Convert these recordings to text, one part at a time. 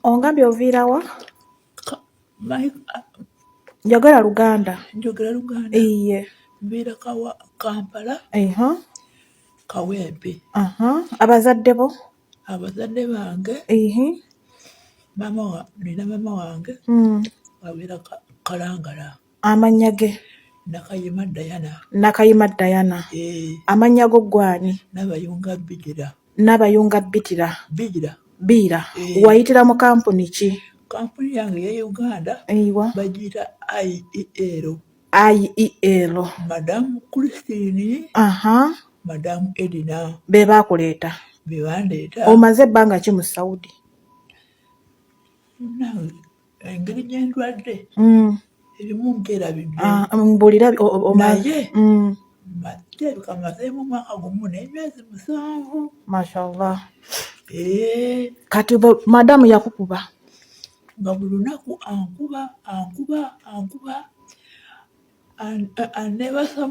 Ongambye oviira wa? My, uh, Njogera Luganda. njogera Luganda. Iye. Mbeera kawa Kampala, Eha. Kawempe. Aha. Abazadde bo? Abazadde bange, Ihi. maama wa, nina maama wange Mm. abeera Ka- Kalangala. Amannya ge. Nakayima Diana. Nakayima Diana. Eh. Amannya go gwani? Nabayunga Bidira. Nabayunga Bidira. Bidira. Biira. Eh. Wayitira mu kampuni ki? Kampuni yange ya Uganda. Eyiwa. Bagiyita IEL. IEL. Madam Christine. Aha. Madam Edina. Be baakuleeta. Be bandeeta. Omaze ebbanga ki mu Saudi? Nawe. engeri gyendwadde mm. erimu mbuulira ah, mm, mm. naye kirabika mazeemu omwaka gumu n'emyezi musanvu mashallah eh. kati madamu yakukuba nga buli lunaku ankuba ankuba ankuba anebasa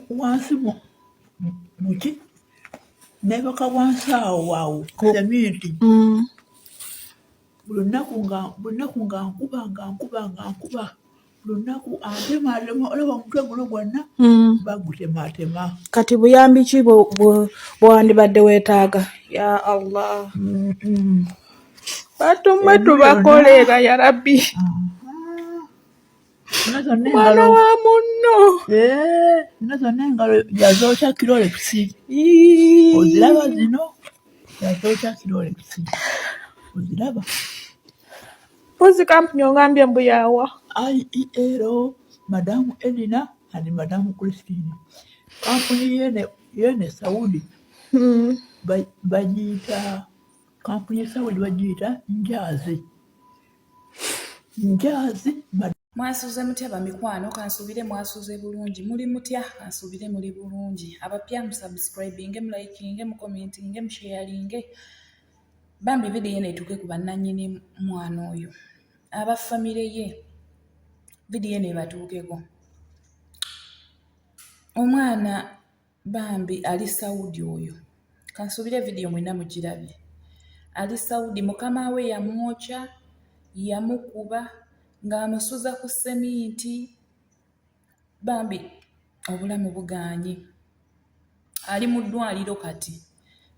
wansi muki nebaka wansi awo wawo seminti buli lunaku nga buli lunaku nga nkuba nga nkuba nga nkuba buli lunaku antematema olaba omutwe guno gwonna mm. bagutematema kati buyambi ki bwewandibadde weetaaga ya allah batumwe tubakoleera ya rabbi ah. mwana wa munno eh, zino zonna engalo yazookya kirolekisi oziraba zino yazookya kirolekisi oziraba mpozi kampuni ongambye mbu yaawa iero madamu edina and madamu christine kampuni yene saudi hmm. bagiyita kampuni ya saudi bagiyita njazi njaazi mwasuze mutya bamikwano kansuubire mwasuze bulungi muli mutya kansuubire muli bulungi abapya musubscribinge mulikinge mukomentinge musheyalinge bambi vidiyo eno etuuke ku bannannyini mwana oyo aba famire ye vidiyo eno ebatuukeko omwana Bambi ali Saudi oyo. Kansuubire vidiyo mwena mugirabye. Ali Saudi mukama we yamwokya, yamukuba ng'amusuza ku seminti. Bambi obulamu bugaanyi. Ali mu ddwaliro kati.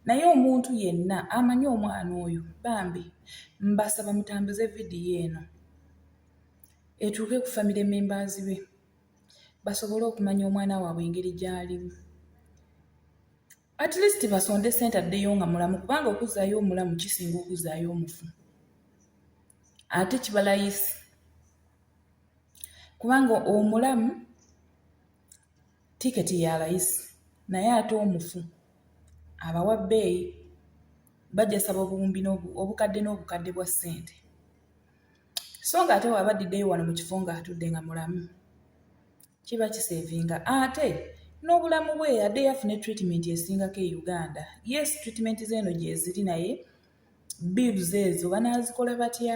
Naye omuntu yenna amanyi omwana oyo bambi mbasaba mutambuze vidiyo eno etuuke ku famire members be. basobole okumanya omwana waabwe engeri gy'alimu at least basonde sente addeyo nga mulamu kubanga okuzzaayo omulamu kisinga okuzzaayo omufu ate kibalayisi kubanga omulamu tiketi ya layisi naye ate omufu abawa bbeeyi bajasaba obuwumbi obukadde n'obukadde bwa ssente so nga ate waba adiddeyo wano mu kifo nga atudde nga mulamu kiba kisevinga ate n'obulamu bwe yadde yafune treatment esingako e uganda yes treatment zeeno gyeziri naye bills ezo banazikola batya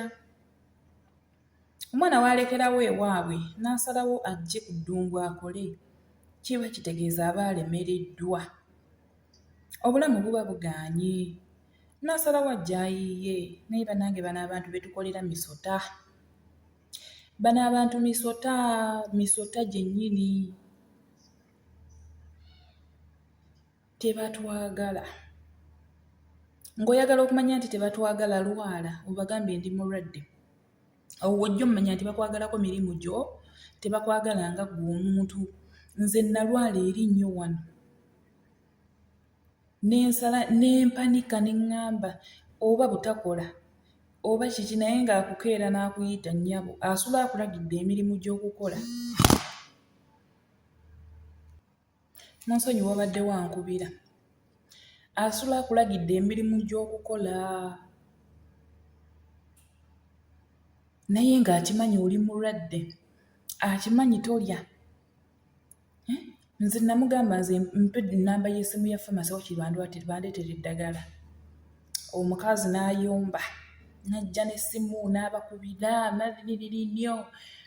omwana waalekerawo ewaabwe n'asalawo ajje ku ddungu akole kiba kitegeeza aba alemereddwa obulamu buba bugaanye nasalawo ajja ayiiye naye banange bano abantu betukolera misota bano abantu misota misota gyennyini tebatwagala ng'oyagala okumanya nti tebatwagala lwala obagambye ndi mulwadde awo wojja omumanya nti bakwagalako mirimu gyo tebakwagala nga gwe omuntu nze nalwala eri nnyo wano nensala nempanika nengamba oba butakola oba kiki naye nga akukeera nakuyita nyabo asula akulagidde emirimu gyokukola munsonyi wabadde wankubira asula akulagidde emirimu gyokukola naye nga akimanyi oli mulwadde akimanyi tolya nze namugamba nze mpe namba yesimu ya famasi wakiri bandeetera eddagala omukazi n'ayomba najja n'essimu n'abakubira naliniriri nnyo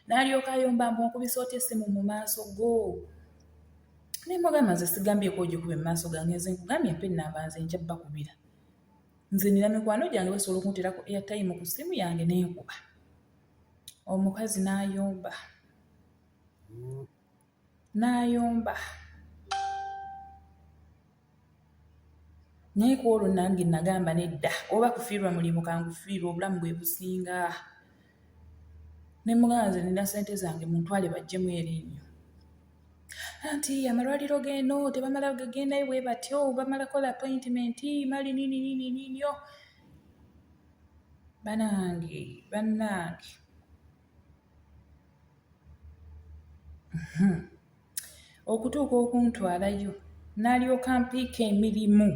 n'alyoka ayomba mbu nkubisa otya essimu mu maaso go naye mugamba nze sigambyeko ogikuba emumaaso gange nze nkugambye mpa enamba nze nja bakubira nze nina mikwano gyange basobola okuntera ku airtime ku ssimu yange nenkuba omukazi n'ayomba n'ayomba naye ku olwo nange nagamba nedda oba kufiirwa mulimu kangufiirwa obulamu bwe businga ne mugamba nze nina sente zange muntwale bajjemu erinnyo anti amalwaliro geno tebamala gagendayo bwe batyo bamala kola appointment mali nini nini ninio banange banange Hmm. okutuuka okuntwalayo n'alyoka mpiika emirimu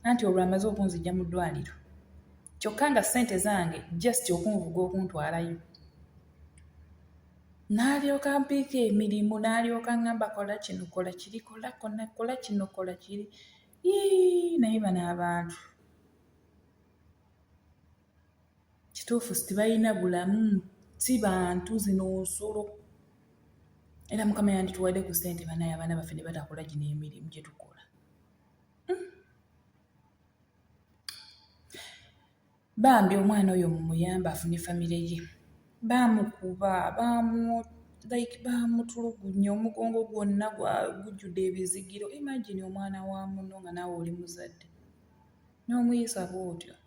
anti olwo amaze okunzija mu ddwaliro kyokka nga ssente zange just okunvuga okuntwalayo n'alyoka mpiika emirimu n'alyoka ngamba kola kino kola kiri kola kona kola kino kola kiri naye bano abantu Kituufu sitibalina bulamu si bantu zino nsolo era mukama yandituwadde ku ssente banaye abaana baffe ne batakola gino emirimu gye tukola hmm. bambi omwana oyo mumuyamba afune famire ye baamukuba baamu like baamutulugunya omugongo gwonna gujjudde ebizigiro imagine omwana wa muno nga naawe oli muzadde n'omuyisa bw'otyo